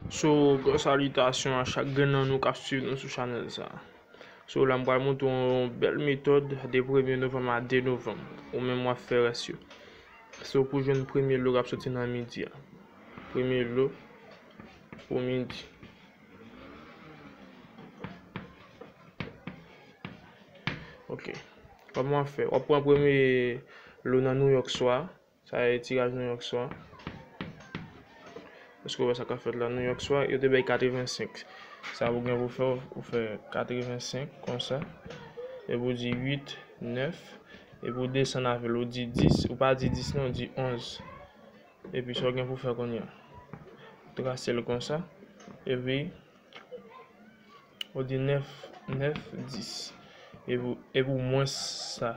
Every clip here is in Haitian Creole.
So gros salitasyon a chak grenn nan nou kap swiv nou sou chanèl sa. So la m pral montre w yon bèl metòd de premye novanm a 2 novanm. Ou menm wap fè rès yo. So pou jwenn premye lo kap soti nan midi a. Premye lo pou midi. Ok. Kòman wap fè? Wap pran premye lo nan Nouyòk swa a. Sa a e tiraj nou yòk swa. Èske ou wè sa k ap fèt la? Nou yòk swa, yo te bay 85. Sa ou gen pou fè, ou fè 85 konsa. E pou di 8, 9. E pou desann avè l, ou di 10. Ou pa di 10 non, ou di 11. E pi sa ou gen pou fè kounye a. Trase l konsa. E pi, ou di 9, 9, 10. E pou mwens sa.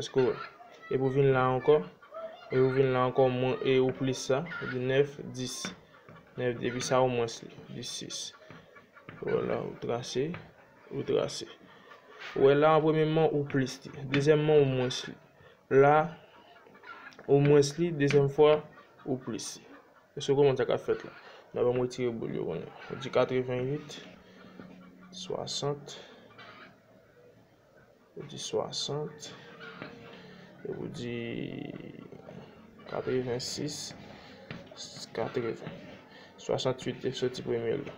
Eske w e pou vin la ankò? E ou vin la ankò mwen e ou plis sa, sa di 9, 10. 9 epi sa ou mwens li, di 6. Wala ou trase, ou trase. Ou wè la an premyèman ou plis li, dezyèmman ou mwens li. La ou mwens li, dezyèm fwa ou plis li. Eske w konprann sa k ap fèt la? Nan ban m retire boul yo kounye a. Ou di 88, 60. Ou di 60. E pou di 86. 80. 68 te soti premye la.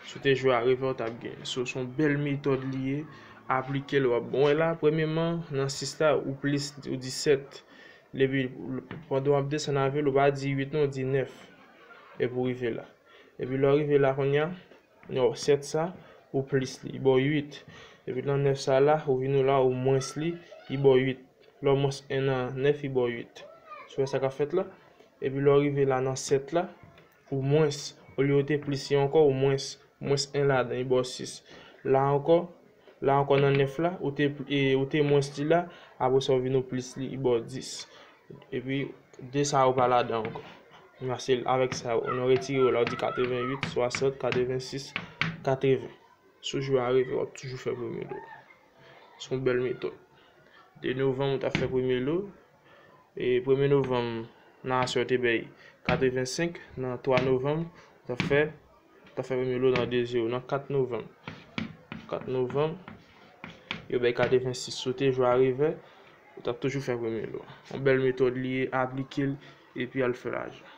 Si w te jwe a revè ou t ap genyen. So s on bèl metòd li ye. Aplike l w ap bon. Wè la premyeman nan 6 la ou plis ou di 7. Epi pandan w ap desann avè l ou pa di 8 non ou di 9. Epi w rive la. Epi lè w rive la kounya. Non 7 sa ou plis li baw 8 epi nan 9 sa la ou vin ou la ou mwens li li baw 8 lè w mwens 1 nan 9 li baw 8 sou wè sa kap fèt la epi lè w rive la nan 7 la ou mwens olye ou te plis li ankò ou mwens ou mwens 1 ladan li baw 6 la ankò la ankò nan 9 la ou te e ou te mwens li la apre sa ou vin ou plis li li baw 10 Epi 2 sa yo pa ladan ankò. Nan se avèk sa yo nou retire yo la ou di 88, 60, 86, 80. Sou jou a rive wap toujou fè premye lou. Son bèl metòd. 2 novanm ou ta fè premye lou. E premye novanm nan aswè ou te bay 85, nan 3 novanm ou ta fè Ou ka fè premye lòt nan 2 je ou nan 4 novanm. 4 novanm, yo bay kade 26 sote jou a revè, ou t ap toujou fè premye lòt. Yon bèl metòd li ye, aplike l, epi al fè lajan.